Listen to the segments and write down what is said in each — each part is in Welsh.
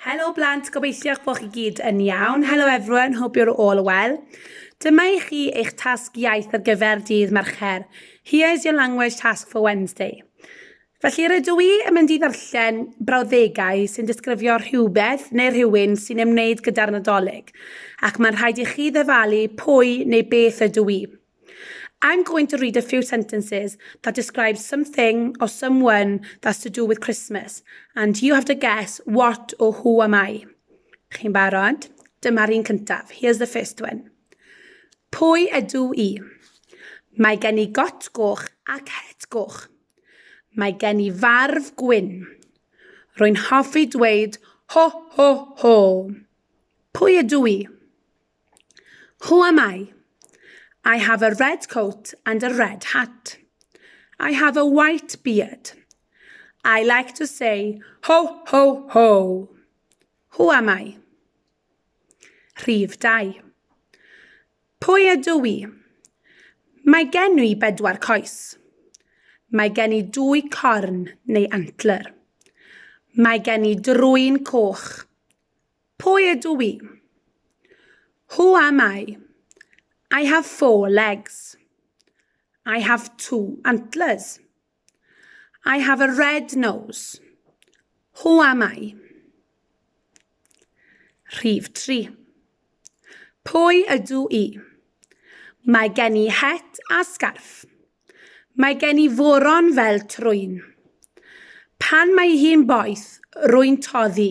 Helo blant, gobeithio eich bod chi gyd yn iawn. Helo everyone, hope you're all well. Dyma i chi eich tasg iaith ar gyfer dydd Mercher. Here is your language task for Wednesday. Felly rydw i yn mynd i ddarllen brawddegau sy'n disgrifio rhywbeth neu rhywun sy'n ymwneud gyda'r Nadolig, ac mae'n rhaid i chi ddyfalu pwy neu beth ydw i. I'm going to read a few sentences that describe something or someone that's to do with Christmas and you have to guess what or who am I. Chi'n barod? Dyma'r un cyntaf. Here's the first one. Pwy ydw i? Mae gen i got goch ac het goch. Mae gen i farf gwyn. Rwy'n hoffi dweud ho ho ho. Pwy ydw i? Who am I? I have a red coat and a red hat. I have a white beard. I like to say ho, ho, ho. Who am I? Rhif 2. Pwy ydw i? Mae gen i bedwar coes. Mae gen i dwy corn neu antler. Mae gen i drwy'n coch. Pwy ydw i? Who am I? I have four legs. I have two antlers. I have a red nose. Who am I? Rhif 3. Pwy ydw i? Mae gen i het a sgarff. Mae gen i foron fel trwyn. Pan mae hi'n boeth, rwy'n toddi.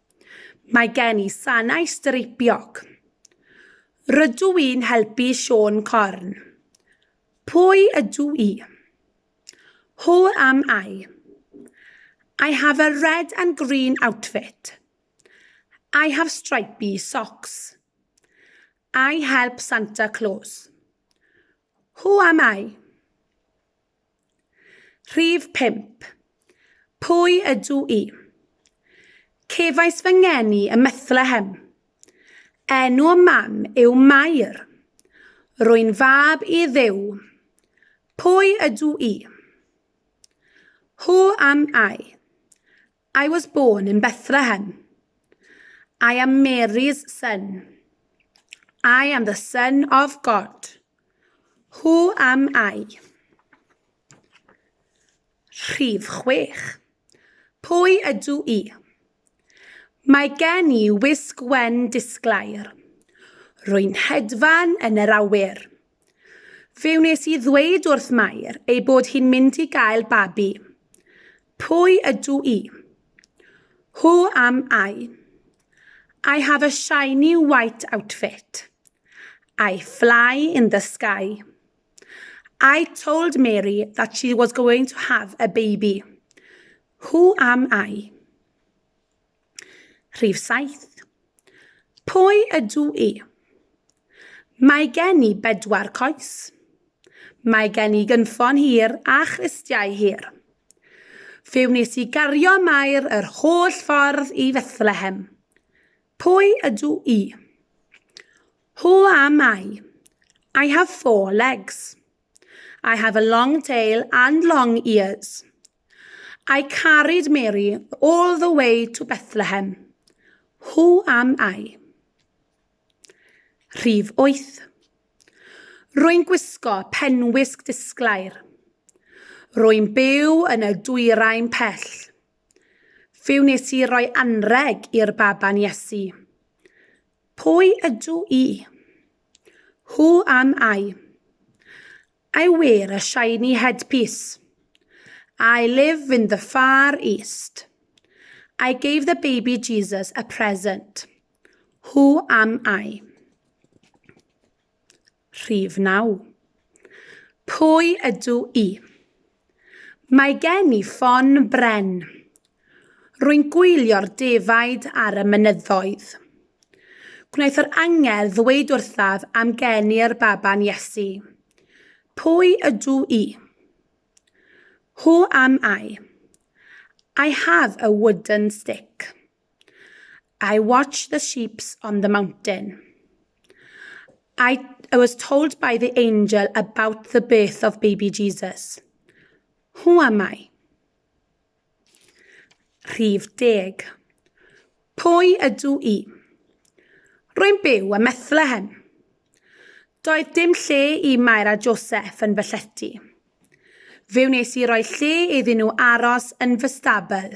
Mae gen i sanau streipiog. Rydw i'n helpu Siôn Corn. Pwy ydw i? Who am I? I have a red and green outfit. I have stripy socks. I help Santa Claus. Who am I? Rhif 5. Pwy ydw i? Cefais fy ngeni ym Methlehem. Enw y mam yw Mair. Rwy'n fab i Dduw. Pwy ydw i? Who am I? I was born in Bethlehem. I am Mary's son. I am the son of God. Who am I? Rhif chwech. Pwy ydw i? Mae gen i wisg wen disglair. Rwy'n hedfan yn yr awyr. Fe wnes i ddweud wrth Mair ei bod hi'n mynd i gael babi. Pwy ydw i? Who am I? I have a shiny white outfit. I fly in the sky. I told Mary that she was going to have a baby. Who am I? Rhif saith. Pwy ydw i? Mae gen i bedwar coes. Mae gen i gynffon hir a chlustiau hir. Fe wnes i gario Mair yr holl ffordd i Fethlehem. Pwy ydw i? Who am I? I have four legs. I have a long tail and long ears. I carried Mary all the way to Bethlehem. Who am I? Rhif 8. Rwy'n gwisgo penwisg disglair. Rwy'n byw yn y dwyrain pell. Fe wnes i roi anreg i'r baban Iesu. Pwy ydw i? Who am I? I wear a shiny headpiece. I live in the far east. I gave the baby Jesus a present. Who am I? Rhif 9. Pwy ydw i? Mae gen i ffon bren. Rwy'n gwylio'r defaid ar y mynyddoedd. Gwnaeth yr angel ddweud wrthaf am gen i'r baban Iesu. Pwy ydw i? Who am I? I have a wooden stick. I watched the sheeps on the mountain. I, I was told by the angel about the birth of baby Jesus. Who am I? Rhif deg. Pwy ydw i? Rwy'n byw ym Methlehem. Doedd dim lle i Mair a Joseph yn fy llety. Fe wnes i roi lle iddyn nhw aros yn fy stabl.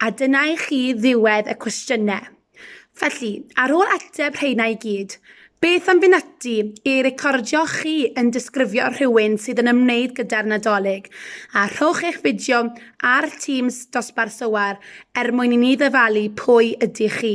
A dyna i chi ddiwedd y cwestiynau. Felly, ar ôl ateb rheina i gyd, beth am fynd ati i recordio chi yn disgrifio rhywun sydd yn ymwneud gyda'r Nadolig, a rhowch eich fideo ar Teams dosbarth Sowar er mwyn i ni ddyfalu pwy ydych chi.